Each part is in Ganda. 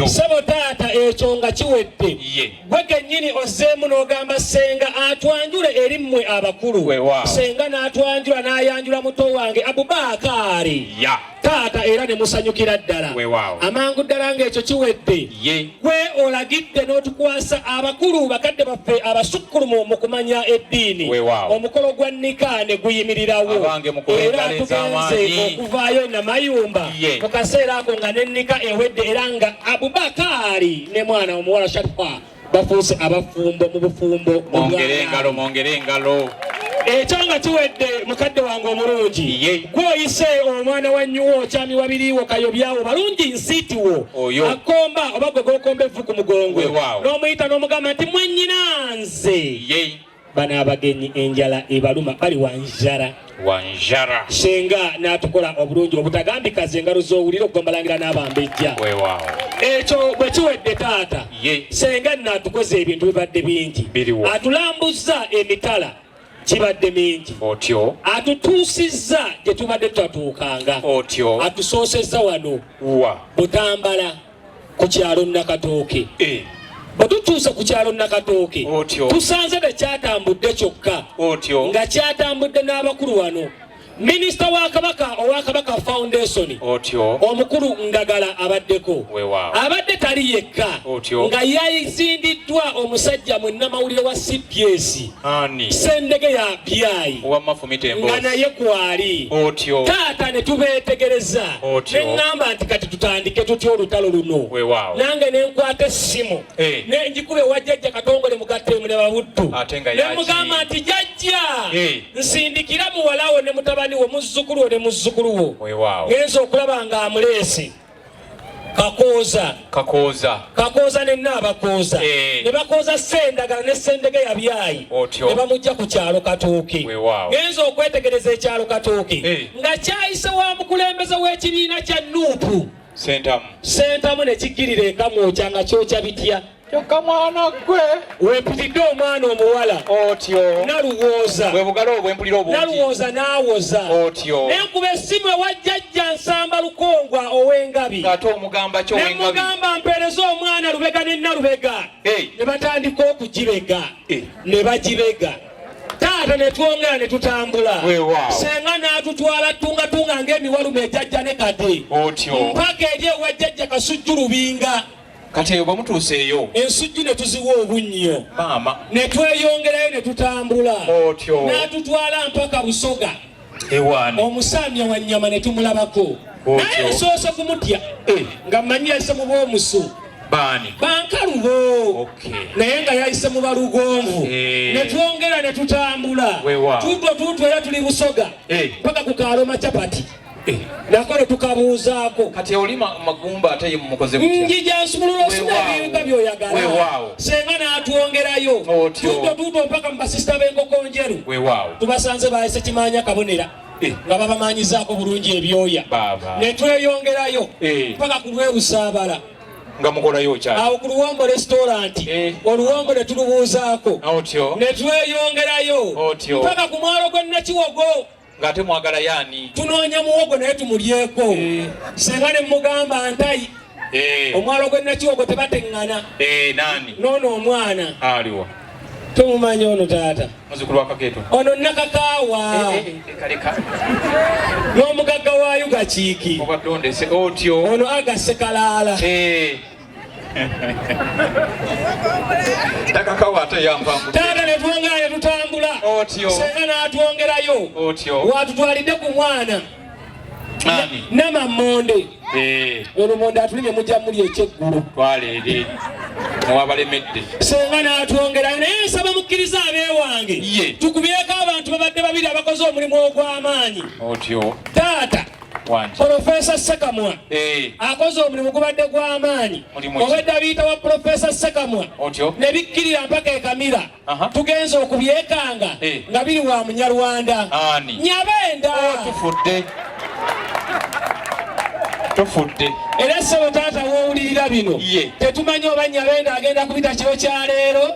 sebo taata ekyo nga kiwedde gwe kenyini ozzeemu n'ogamba senga atwanjule eri mmwe abakulu senga n'atwanjula n'ayanjula muto wange abubaakaari taata era ne musanyukira ddala amangu ddala ng'ekyo kiwedde gwe olagidde n'otukwasa abakulu bakadde baffe abasukkulumu mu kumanya eddiini omukolo gwa nika ne guyimirirawo era tugenze okuvaayo namayumba ye mu kaseera ako nga nennika ewedde era nga abubakaari ne mwana omuwala sharifa bafuuse abafumbo mu bufumbo mwongere engalo mwongere engalo ekyo nga kiwedde mukadde wange omulungi gwoyise omwana wa nyuwo okyami wabiriwo kayobyawo balungi nsiitiwo akomba oba gwe gokomba evvu ku mugongo n'omuyita n'omugamba nti mwanyina nze bano abagenyi enjala ebaluma bali wanjara wanjara senga natukola obulungi obutagambika ze engalo zowulira okugambalangira n'abambejja ekyo bwe kiwedde taata senga natukoze ebintu bibadde bingi atulambuzza emitala gibadde mingi otyo atutuusizza gye tubadde tutatuukanga otyo atusoosezza wano wa butambala ku kyalo Nakatooke eh. bwe tutuuse ku kyalo Nakatooke tusanze tekyatambudde kyokka nga kyatambudde n'abakulu wano minisita wa kabaka owa kabaka foundation omukulu ndagala abaddeko abadde tali yekka nga yazindiddwa omusajja mwenamawulire wa cps Ani? Sendege ya byayi wamma fumita emboozi nga naye kwali otyo taata ne tubeetegereza ne ŋŋamba nti kati tutandike tutya olutalo luno nange ne nkwata essimu hey. Eh. ne njikuba ewa jjajja katongole mugattemu ne babuddu ne mugamba nti jajja hey. Eh. nsindikira muwalawo ne mutabani wo muzzukulu wo ne muzzukulu wo ngenza okulaba nga amuleesi kakooza kakooza kakooza ne naabakooza eh. ne bakooza sendagala ne sendege yabyayi ne bamujja ku kyalo katooke genza okwetegereza ekyalo katooke eh. nga kyayise wa mukulembeze w'ekibiina kya nuupu sentamu sentamu ne kikkirira enkamwokya nga kyokya bitya kyokka mwana gwe wempitidde omwana omuwala otyo naluwooza bwe bugalo obwempulira obungi naluwooza n'awoza otyo naye nkuba essimu ewa jjajja nsamba lukongwa ow'engabi ate omugamba kyo nemugamba mpeereza omwana lubega ne nalubega ne batandika okugibega ne bagibega taata ne twongera ne tutambula senga n'atutwala tungatunga ng'emiwalume ejajja ne kade mpaka eri ewa jjajja kasujju lubinga kati eyo bwe mutuuseeyo ensujju ne tuziwa obunnyo maama ne tweyongerayo ne tutambula otyo n'atutwala mpaka busoga ewaani omusaamya wa nnyama ne tumulabako naye nsoose kumutya eh. nga mmanyi yayise mu b'omusu baani bankalubo naye nga yayise mu balugonvu eh. ne twongera ne tutambula tutwo tutwo era tuli busoga eh. paka ku kaaloma capati Eh. nako netukabuuzaako kati oli magumba ate ye mumukoze njija nsumulula osina ebiyuga byoyagala senga n'atwongerayo tuuto tuuto mpaka mu basisita b'enkoko njeru tubasanze baayise kimaanya kabonera eh. nga babamanyizaako bulungi ebyoya ne tweyongerayo eh. mpaka ku lw'ebusaabala nga mukolayo okyali awo ku luwombo restaurant eh. oluwombo ne tulubuuzaako ne tweyongerayo mpaka ku mwalo gw'e nakiwogo ng'ate mwagala yaani tunoonya muwogo naye tumulyeko eh. singa ne mugamba ntayi eh. omwalo gwe nakiwogo tebateŋŋana eh, nani noono omwana aliwa tomumanyi ono taata muzukulu wakaketo ono nakakaawa n'omugagga wa yugakiiki obadde ondese otyo ono agasse kalaala takakawo ate yampambu taata ne twongera ne tutambula Otyo. senga n'atwongerayo Otyo. watutwalidde ku mwana Ani? namamonde Eh, olumonde atulimye mujja muli ekyeggulo twala eri muwabalemedde senga n'atwongerayo naye nsaba mukkiriza abeewange Ye. tukubyeko abantu babadde babiri abakoze omulimu ogw'amaanyi otyo taata Profesa Sekamwa eh. akoze omulimu gubadde gw'amaanyi obwedda biyita wa Profesa Sekamwa ne bikkirira mpaka e Kamira tugenze okubyekanga eh. nga biri wa Munyarwanda Nyabenda oh, tufudde tufudde era ssebo taata w'owulirira bino tetumanyi oba Nyabenda agenda kubita kiro kya leero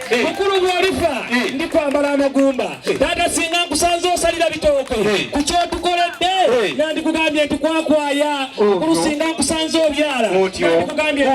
Eh. mukulu bw'olifa eh. ndi kwambala amagumba eh. taata singa nkusanze osalira bitooke ku kyotukoledde nandikugambye nti kwakwaya oh, mukulu singa nkusanze obyala nandikugambye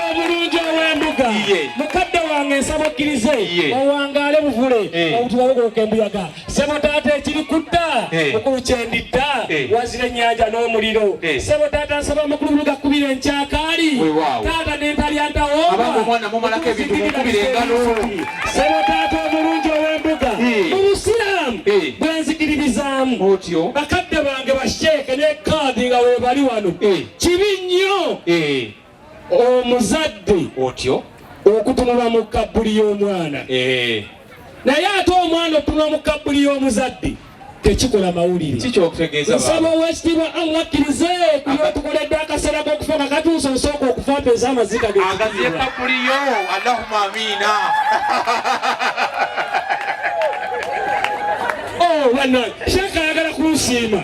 obulungi ow'embuga mukadde wange nsaba okkirize owangaale buvule obutibabugoloka embuyaga sebo taata ekiri kudda eh. mukulu kyendidda eh. wazira ennyanja n'omuliro eh. sebo taata nsaba mukulu buluga kubira enkyakaali taata nentalyandawoosebo taata omulungi ow'embuga mu busiraamu bwenzikiririzaamu bakadde bange basheeke ne kaadi nga webali wano kibi nnyo omuzadde otyo okutunula mu kabbuli y'omwana eh. naye ate omwana okutunula mu kabbuli y'omuzadde tekikola mawulire nsaba owekitiibwa allah akkirize kuyotukoledde akaseera k'okufa nga katuusa osooka okufa mpeza amaziga agaziye kabbuli yo allahuma amiina oh, sheekh ayagala kunsiima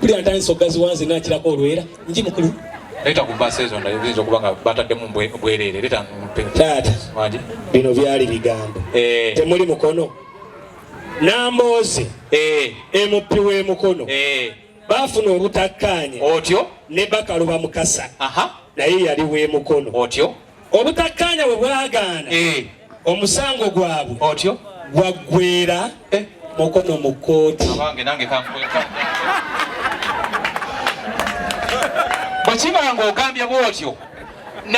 buli antandisa okugazi wanze nakirako olwera nji mukulu leta ku bus ezo ndala ezo kuba nga bataddemu bwerere leta taata waje bino byali bigambo eh temuli mukono nambozi eh emupi we mukono eh bafuna obutakkaanya otyo ne bakaluba mukasa aha naye yali we mukono otyo obutakkaanya bwe bwagaana eh. omusango gwabwe otyo gwaggwera eh. mukono mu kkooti bwe kiba nga ogambye bw'otyo